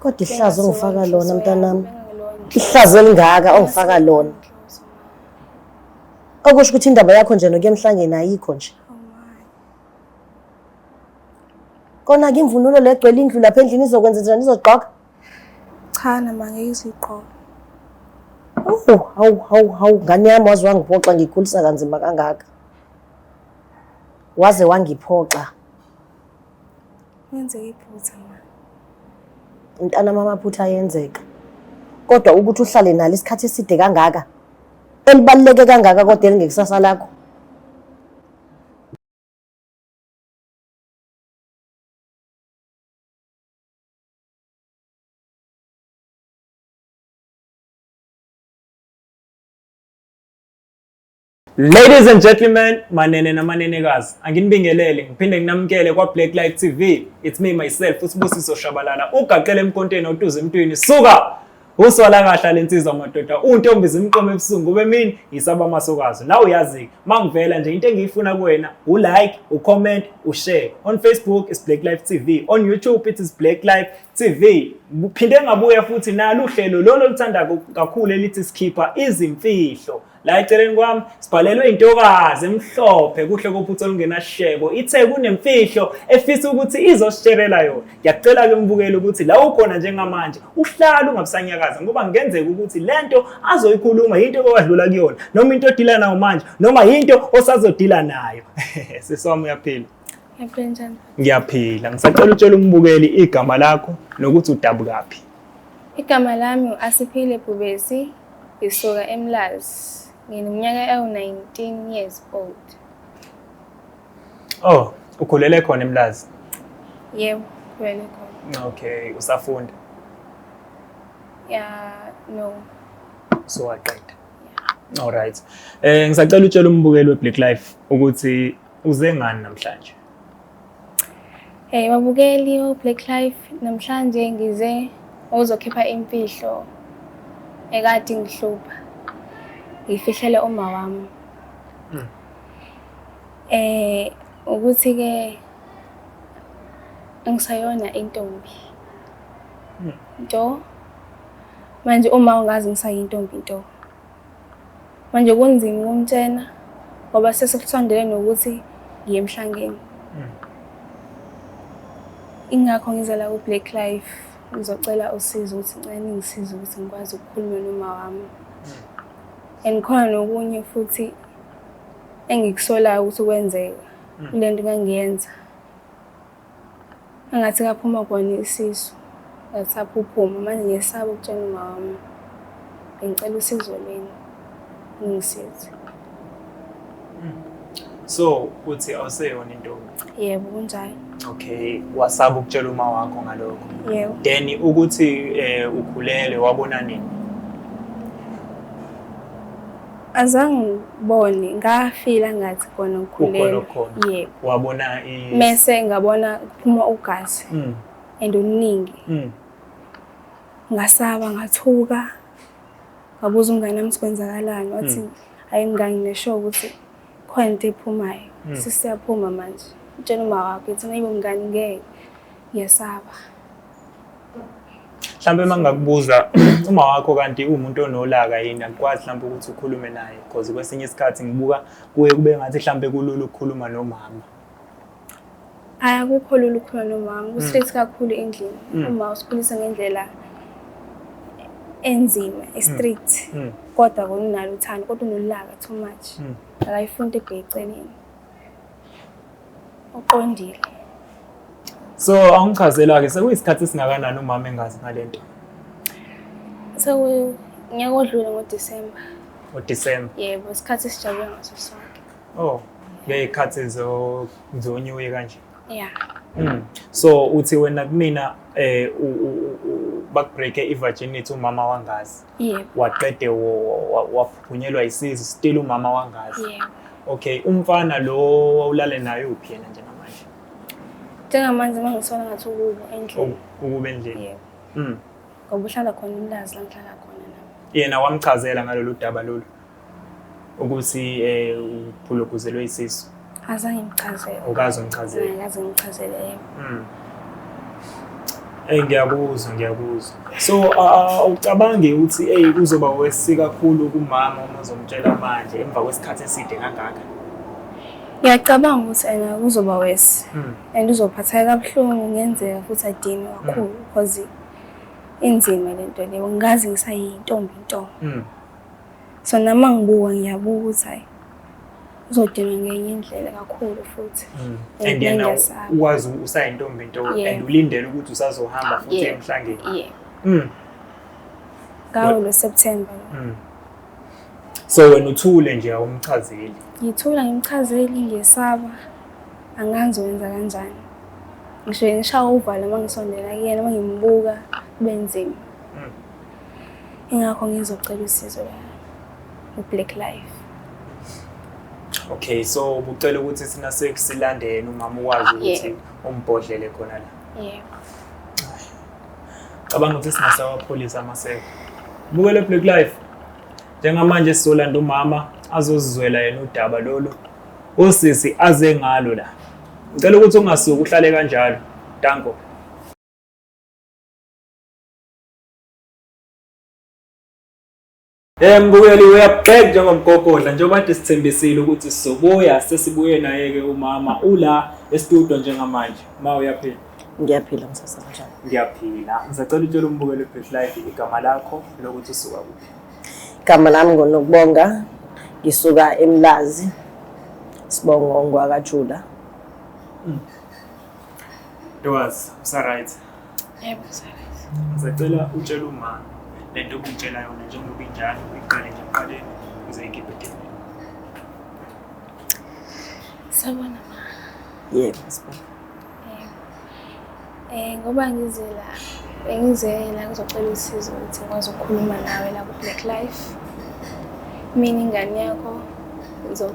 Kodwa ihlazo ongifaka lona mntanami, ihlazo elingaka ongifaka lona. Okusho ukuthi indaba yakho nje nokuya emhlangeni ayikho nje. Kona-ke imvunulo le egcwele indlu lapha endlini izokwenza njani izogqoka? Cha nama ngeke izigqoke. Hawu hawu hawu hawu ngane yami waze wangiphoxa ngikhulisa kanzima kangaka. Waze wangiphoxa. Kwenzeke iphutha ma. Mntana mama phutha yenzeka. Kodwa ukuthi uhlale nalo isikhathi eside kangaka elibaluleke kangaka kodwa elingekusasa lakho. Ladies and gentlemen, manene namanenekazi, anginibingelele ngiphinde nginamukele kwa Black Light TV. It's me myself uSibusiso Shabalala. Ugaqele emkonteni otuze emntwini. Suka! Uswala kahla lensizwa madoda. Untombi zimqoma ebusungu bemini yisaba masokazi. Nawe uyazi mangivela nje into engiyifuna kuwena u like, u comment, u share. On Facebook is Black Life TV. On YouTube it is Black Life TV. Phinde ngabuya futhi nalu hlelo lolo luthanda kakhulu elithi sikhipha izimfihlo. La eceleni kwami sibhalelwe intokazi emhlophe kuhle kophutha olungenashebo ithe kunemfihlo efisa ukuthi izosisherela yona. Ngiyacela ke umbukele ukuthi la ukhona njengamanje uhlala ungabusanyakaza ngoba kungenzeka ukuthi lento azoyikhuluma into owadlula kuyona noma into odila nayo manje noma into osazodila nayo. Siswami uyaphila. Ngiyaphila. Ngiyaphila. Ngisacela utshela umbukeli igama lakho nokuthi udabukaphi. Igama lami u-Asiphile Bhubesi, ngisuka eMlazi. Ngineminyaka ewu-19 years old. Oh, ukhulele khona eMlazi? Yebo, ngikhulele khona. Okay, usafunda? Ya, no. So waqeda? All right. Eh ngisacela utshela umbukeli weBlack Life ukuthi uze ngani namhlanje? Hey babukeli o-Black Life, namhlanje ngize ozokhipha imfihlo ekade ngihlupha. Ngifihlele uma wami. Mm. Eh ukuthi ke angisayona intombi. Mm. Nto manje uma ungazi ngisayintombi nto. manje kunzima ukumtshena ngoba sesikuthondele nokuthi ngiye emhlangeni hmm. ingakho ngiza la ku-black life ngizocela usizo ukuthi ncane ngisize ukuthi ngikwazi ukukhuluma noma wami hmm. and khona nokunye futhi engikusolayo ukuthi kwenzeka hmm. kule nto kangiyenza Engathi kaphuma kona isisu ngathapha uphuma manje ngiyesaba ukutshela umama wami ngicela usizo leni ngisize so uthi awuseyona intombi yebo kunjalo okay wasaba ukutshela uma wakho ngalokho yebo then ukuthi eh ukhulele wabona nini Azange ngibone ngafila ngathi khona ngikhulelwe. Yebo. Wabona i Mese ngabona kuphuma ugazi. Mm. And uningi. Mm. Ngasaba ngathuka. Ngabuza umngane wami sikwenzakalani wathi mm. hayi ngangi nesho ukuthi khona into ephumayo. Mm. Sisiyaphuma manje. Utshela uma wakho uthi nayibo mngani ngeke. Ngiyasaba. mhlawumbe uma ngingakubuza uma wakho kanti uwumuntu onolaka yini akukwazi mhlawumbe ukuthi ukhulume naye because kwesinye isikhathi ngibuka kuye kube ngathi mhlawumbe kulula ukukhuluma nomama akukho lula ukukhuluma nomama mm. ustress kakhulu endlini mm. uma usikhulisa ngendlela enzima estrict mm. kodwa konunalo uthando kodwa unolaka too much akayifuni into ebheceleni uqondile so awungichazela-ke sekuyisikhathi esingakanani umama engazi ngale nto sekunyaka odlule ngodisemba ngodisemba yebo isikhathi esijabule ngaso sonke oh ngey'khathi zonyuye kanje ya hmm. so uthi wena kumina um bakubreake i-virginity umama wangazi yebo waqede waphunyelwa isizi still umama wangazi yebo okay umfana lo wawulale naye uphi yena njengamanje njengamanje mangisona ngathi ukubo endlini ukubo endlini yebo mm ngoba uhlala khona umlazi la ngihlala khona nami yena wamchazela ngalolu daba lolu ukuthi um uphulukhuzelwe isisu azange ngichazele ukaze ungichazele akaze ngichazele yebo hmm. Ey ngiyakuzwa ngiyakuzwa. So awucabange ukuthi ey kuzoba wesi kakhulu kumama uma uzomtshela manje emva kwesikhathi eside kangaka. Ngiyacabanga ukuthi ena kuzoba wesi hmm. and uzophatheka kabuhlungu ngenzeka futhi adini hmm. kakhulu because inzima lento leyo ngazi ngisayintombi intombi. so nami uma ngibuka ngiyabuka ukuthi hhayi uzodinwa ngenye indlela kakhulu futhi mm. and yena uwazi usayintombi nto and ulindele ukuthi usazohamba futhi emhlangeni yeah. mm. ngawo lo september mm. so wena uthule nje awumchazeli ngithula ngimchazeli ngesaba angazi wenza kanjani ngisho ngishawa uvalo uma ngisondela kuyena uma ngimbuka kube nzima ingakho ngizocela usizo la ku-black life okay so ubucela ukuthi sina sekusilandeni umama ukwazi ah, ukuthi umbhodlele khona la yebo cabanga ukuthi singasawapholisa amaseko bukele black life njengamanje sizolanda umama azozizwela yena udaba lolu usisi aze ngalo la ngicela ukuthi ungasuki uhlale kanjalo danko Eh Mbuyeli uyabugxeka njengomgogodla njengoba kade sithembisile ukuthi sizobuya sesibuye naye ke umama ula estudio njengamanje ma uyaphila ngiyaphila msasa kanjani ngiyaphila ngisacela utshela umbukeli Best Life igama lakho nokuthi usuka kuphi igama lami ngonokubonga ngisuka eMlazi sibongo ngwakajula Ntokazi usaright Yebo msebenzi. Ngisacela utshele uma le nto obungitshela yona njengoba injalo uyiqale nje ekuqaleni uze ikhiphe dini. Sabona ma. Yebo sibona. Eh ngoba ngize la bengize la ngizocela usizo ukuthi ngikwazi ukukhuluma nawe la ku Black Life. Mina ingane yakho ngizo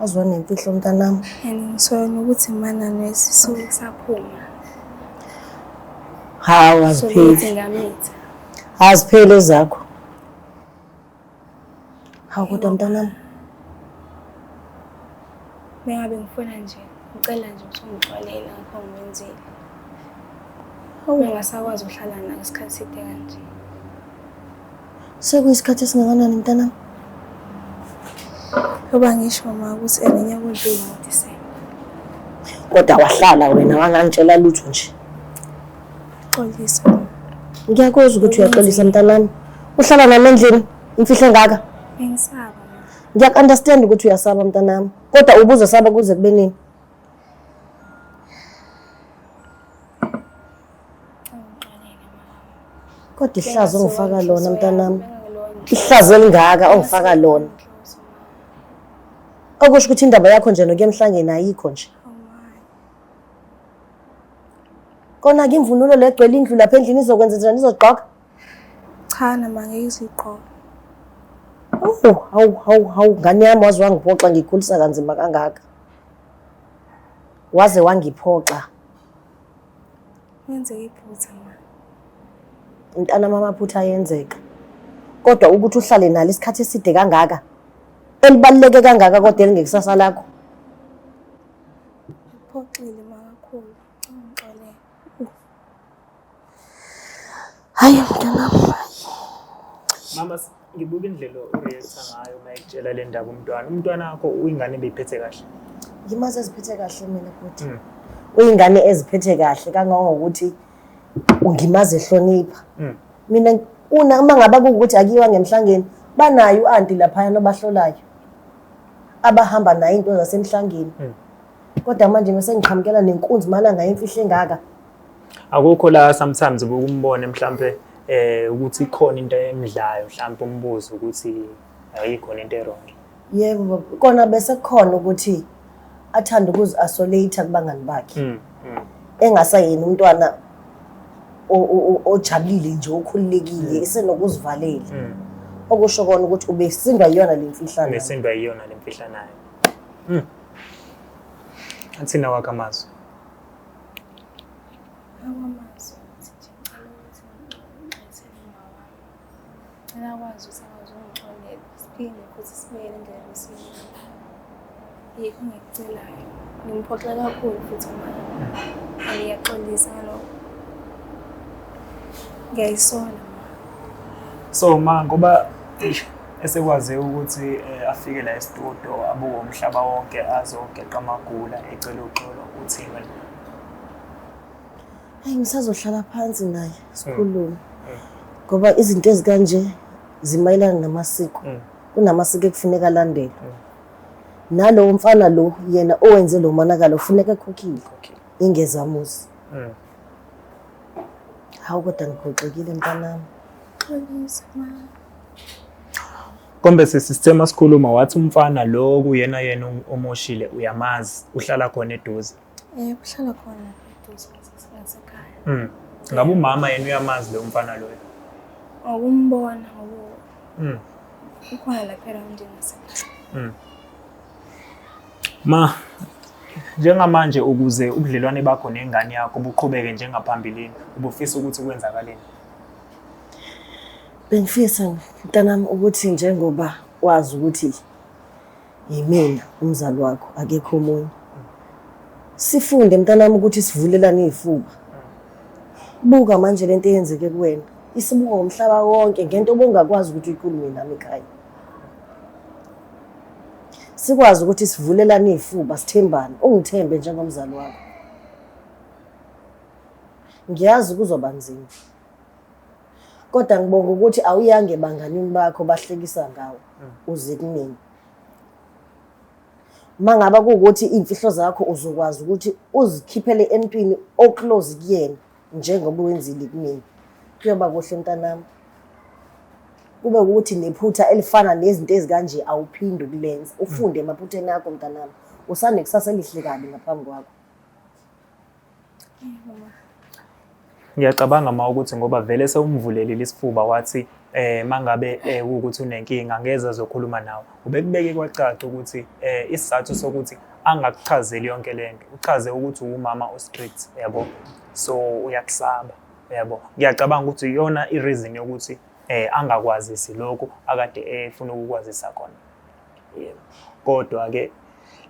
Azwa nemfihlo mntanami. And ngisola nokuthi mana nesisuke saphuma. Hawu azipheli. Azipheli ezakho. Hawu kodwa mntanami. Bengabe ngifuna nje ngicela nje ukuthi ungixolele ngakho ngenzile. Hawu ngasakwazi ukuhlala nawe isikhathi side kanje. Sekuyisikhathi esingakanani mntanami? Yoba ngisho mama ukuthi enenye kodwa uyimutisele. Kodwa wahlala wena wangangitshela lutho nje. Xolisa. Ngiyakwazi ukuthi uyaxolisa mntanami. Uhlala nami endlini imfihlo engaka. Bengisaba. Ngiyakunderstand ukuthi uyasaba mntanami. Kodwa ubuzo saba kuze kube nini? Kodwa ihlazo ongifaka lona mntanami. Ihlazo elingaka ongifaka lona. Okusho ukuthi indaba yakho nje nokuya emhlangeni ayikho nje. Kona ke imvunulo legcwele indlu lapha endlini izokwenza njani izogqoka? Cha nama ngeke izigqoka. Hawu hawu hawu hawu ngane yami waze wangiphoxa ngikhulisa kanzima kangaka. Waze wangiphoxa. Kwenzeke iphutha ma. Mntana mama amaphutha ayenzeka. Kodwa ukuthi uhlale nalo isikhathi eside kangaka elibaluleke kangaka kodwa elingekusasa lakho. Uphoxile makakhulu. Ngixolele. Hayi mntanam. Mama ngibuka indlela ureacta ngayo uma ekutshela le ndaba umntwana. Umntwana wakho uyingane ebeyiphethe kahle. Ngimazi eziphethe kahle mina futhi. Mm. Uyingane eziphethe kahle kangangokuthi ungimazi ehlonipha. Mm. Mina una uma ngaba kuwukuthi akiwa ngemhlangeni banayo u-anti lapha nobahlolayo abahamba nayo into zasemhlangeni. Mm. Kodwa manje mase ngiqhamukela nenkunzi malanga imfihlo engaka. akukho la sometimes ukumbone mhlambe eh ukuthi ikhona into emidlayo mhlambe umbuzo ukuthi ayikhona into erong yebo kona bese khona ukuthi athanda ukuzi isolate kubangani bakhe mm, mm. engasayini umntwana ojabulile nje okhululekile mm. isenokuzivalela mm. okusho kona ukuthi ubesindwa yiyona le mfihlanayo ubesindwa yiyona le mfihlanayo mm. athina wakho amazwi akwazi ukuthi akwazi ungixolela siphinde futhi sibuyele endlela besini yikho engikucelayo ngimphoxa kakhulu futhi manje angiyaxolisa ngalokho ngiyayisola so ma ngoba esekwaze ukuthi eh, afike la estudio abuke umhlaba wonke azogeqa amagula ecela uxolo uthini wena hayi ngisazohlala phansi naye mm. sikhulume mm. ngoba izinto ezikanje zimayelana namasiko mm. kunamasiko ekufuneka alandele nalowo mfana lo yena owenze lo monakalo ufuneka ekhokhile ingezamuzi Hawu kodwa ngiphoxekile mntanami. Xolisa ma. Kombe sisithema sikhuluma wathi umfana lo kuyena yena omoshile uyamazi uhlala khona eduze. Eh uhlala khona eduze sasekhaya. Mm. Ngabe umama yena uyamazi lo mfana loyo. Awumbona ngoba. Mm. Ukhona lapha endini sasekhaya. Mm. Ma, njengamanje ukuze ubudlelwane bakho nengane yakho buqhubeke njengaphambilini ubufisa ukuthi kwenzakaleni bengifisa mntanami ukuthi njengoba wazi ukuthi yimina umzali wakho akekho omunye sifunde mntanami ukuthi sivulelane izifuba buka manje lento eyenzeke kuwena isibuka umhlaba wonke ngento obongakwazi ukuthi uyikhulume nami ekhaya sikwazi ukuthi sivulelane izifuba sithembane ungithembe njengomzali wakho ngiyazi kuzoba nzima kodwa ngibonga ukuthi awuyange ebanganini bakho bahlekisa ngawo mm. uze kunini mangaba kuwukuthi imfihlo zakho uzokwazi ukuthi uzikhiphele emntwini oclose kuyena njengoba wenzile kumina kuyoba kuhle mntanami kube ukuthi nephutha elifana nezinto ezikanje awuphinde ukulenza ufunde emaphutheni akho mntanami usanekusasa elihle kabi ngaphambi kwakho ngiyacabanga ma ukuthi ngoba vele sewumvulelile isifuba wathi eh mangabe eh, ukuthi unenkinga ngeze zokhuluma nawe ubekubeke kwacaca ukuthi eh isizathu sokuthi angakuchazeli yonke lento uchaze ukuthi uwumama ostrict yabo so uyakusaba yabo ngiyacabanga ukuthi iyona ireason yokuthi eh angakwazisi lokho akade efuna ukukwazisa khona yebo kodwa ke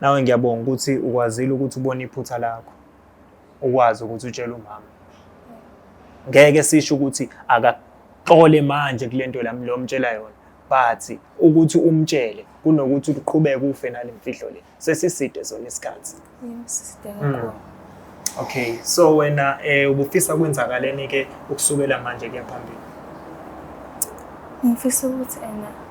nawe ngiyabonga ukuthi ukwazile ukuthi ubone iphutha lakho ukwazi ukuthi utshele umama ngeke sisho ukuthi akaxole manje kulento lami lo mtshela yona but ukuthi umtshele kunokuthi uqhubeke ufe nalemfihlo le sesiside zona isikhathi mm. okay so wena eh ubufisa kwenzakaleni ke ukusukela manje kuya phambili ngifisa ukuthi ena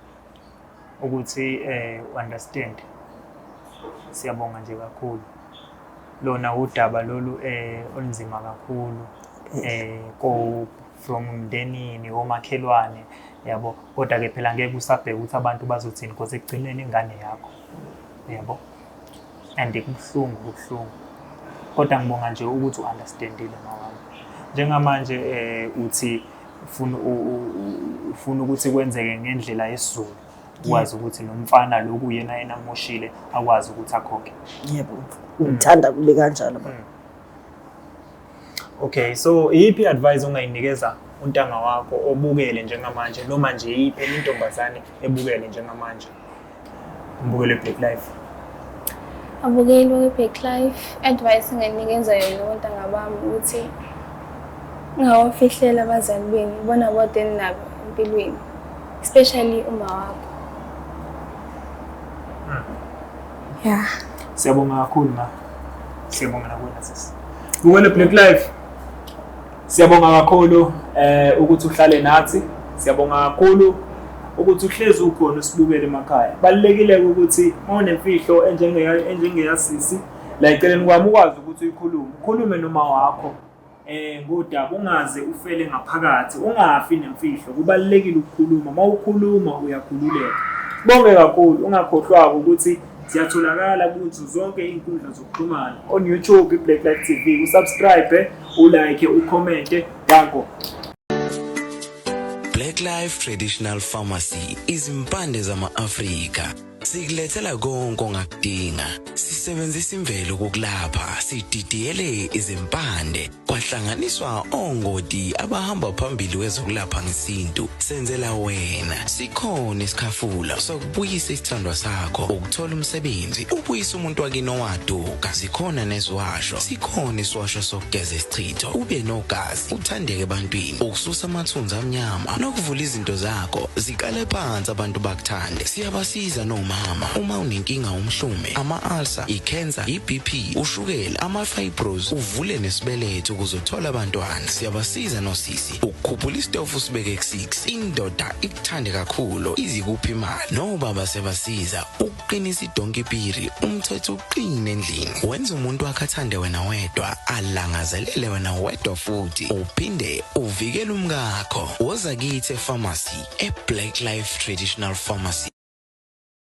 ukuthi um understand siyabonga nje kakhulu lona udaba lolu um olunzima kakhulu um ko from mndenini omakhelwane yabo kodwa-ke phela ngeke usabheke ukuthi abantu bazothini because ekugcineni ingane yakho yabo and kubuhlungu kubuhlungu kodwa ngibonga nje ukuthi u-understandile mawami njengamanje um uthi ufuna ufuna ukuthi kwenzeke ngendlela yesizulu ukwazi ukuthi lo mfana loku yena yena amoshile akwazi ukuthi akhokhe yebo ngithanda kube kanjalo baba mm. Okay, so iyiphi advice ongayinikeza untanga wakho obukele njengamanje noma nje iyiphi enye intombazane ebukele njengamanje? Mbukele Black Life. Abukeli we Black Life. Advice nginikeza yona ontanga bami ukuthi ngawafihlela abazali benu bona bodwa eninabo empilweni especially uma wakho. Hmm. Yeah. Siyabonga kakhulu ma. Siyabonga nakwena sisi. Bukele Black Life. Siyabonga kakhulu eh ukuthi uhlale nathi. Siyabonga kakhulu ukuthi uhlezi ukhona usibukele emakhaya. Balekile ukuthi mawunemfihlo enjenge enjengeyasisi la eceleni kwami ukwazi ukuthi uyikhulume. Ukhulume noma wakho eh ngodaba ungaze ufele ngaphakathi ungafi nemfihlo kubalekile ukukhuluma mawukhuluma uyakhululeka bonge kakhulu ungakhohlwako ukuthi Siyatholakala kuzo zonke iy'nkundla zokuxhumana on YouTube iBlack Light TV, usubscribe, ulike, ukhomente yakho. Black Life Traditional Pharmacy izimpande zama-Afrika sikulethela konke ongakudinga sisebenzisa imvelo kokulapha sididiyele izimpande kwahlanganiswa ongoti abahamba phambili wezokulapha ngesintu senzela wena sikhona isikhafula sokubuyisa isithandwa sakho ukuthola umsebenzi ubuyisa umuntu wakini owaduka sikhona neziwasho sikhona isiwasho sokugeza isichitho ube nogazi uthandeke ebantwini ukususa amathunzi amnyama nokuvula izinto zakho ziqale phansi abantu bakuthande siyabasiza nomama uma unenkinga umhlume ama-ulcer ikhensa ibp ushukela ama-fibros uvule nesibeletho ukuze uthole abantwana siyabasiza nosisi ukukhuphula isitofu usibeke ku-6 indoda ikuthande kakhulu izikuphi imali nobaba siyabasiza ukuqinisa idonki piri umthetho uqine endlini wenza umuntu wakhe athande wena wedwa alangazelele wena wedwa futhi uphinde uvikele umkakho woza kithi efamasi eblack life traditional pharmacy